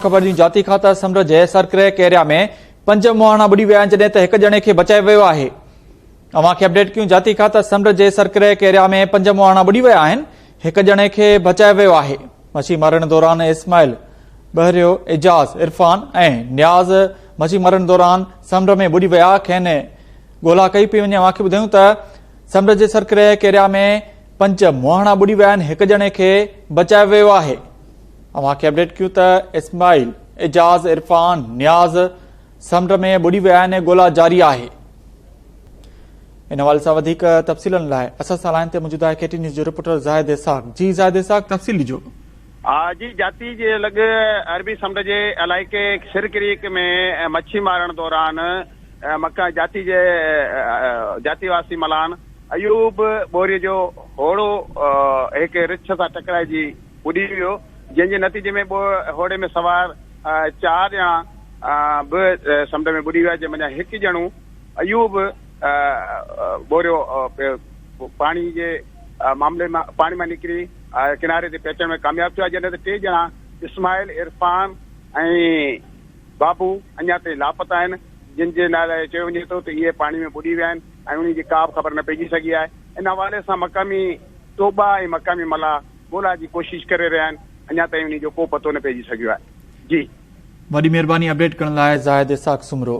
خبر جون جاتي کان ته سمنڊ جي سرڪرهه ڪيريا ۾ پنج مهاڻا ٻڏي ويا آهن جڏهن ته هڪ ڄڻي کي بچايو ويو آهي اوهان کي اپڊيٽ ڪيون جاتي کان ته سمنڊ جي سرڪرهه ڪيريا ۾ پنج مهاڻا ٻڏي ويا آهن هڪ ڄڻي کي بچايو ويو آهي مڇي مارڻ دوران اسماعيل بحريو اعجاز عرفان ۽ نياز مڇي مارڻ دوران سمنڊ ۾ ٻڏي ويا کين ڳولا ڪئي پي وڃي اوهان کي ٻڌايون ته سمنڊ جي سرڪرهه ڪيريا ۾ پنج مهاڻا ٻڏي ويا آهن هڪ ڄڻي کي بچايو ويو آهي اوهان کي اپڊيٽ ڪيون ته اسماعيل، اعجاز، عرفان، نياز سمنڊ ۾ ٻڏي ويا آهن ۽ ڳولا جاري آهي. ان حوالي سان وڌيڪ تفصيلن لاء اسان سان لائين تي موجود آهي K T N news reporter Zahid Ishaq جي زاهد اسحاق تفصيل ڏجو. جي جاتي جي لڳ عربي سمنڊ جي علائقي سر ڪريڪ ۾ مڇي مارڻ دوران مڪان جاتي جي جاتي واسي ملان ايوب ٻوري جو هوڙو هڪ رڇ سان ٽڪرائجي ٻڏي ويو، جنهن جي نتيجي ۾ ٻه هوڙي ۾ سوار چار ڄڻا به سمنڊ ۾ ٻڏي ويا، جنهن منجهان هڪ ڄڻو ايوب ٻوريو پيو پاڻي جي معاملي مان پاڻي مان نڪري ڪناري تي پهچڻ ۾ ڪامياب ٿيو آهي، جڏهن ته ٽي ڄڻا اسماعيل، عرفان ۽ بابو اڃا تائين لاپتا آهن، جن جي نالي چيو وڃي ٿو ته اهي پاڻي ۾ ٻڏي ويا آهن ۽ انهن جي ڪابه خبر نه پئجي سگهي آهي، ان حوالي سان مقامي ٽوٻا ۽ مقامي ملاح ڳولا جي ڪوشش ڪري رهيا آهن اڃا تائين انهي جو ڪو پتو نه پئجي سگهيو آهي جي. وڏي مھرباني اپڊيٽ ڪرڻ لاء زاهد اسحاق سومرو.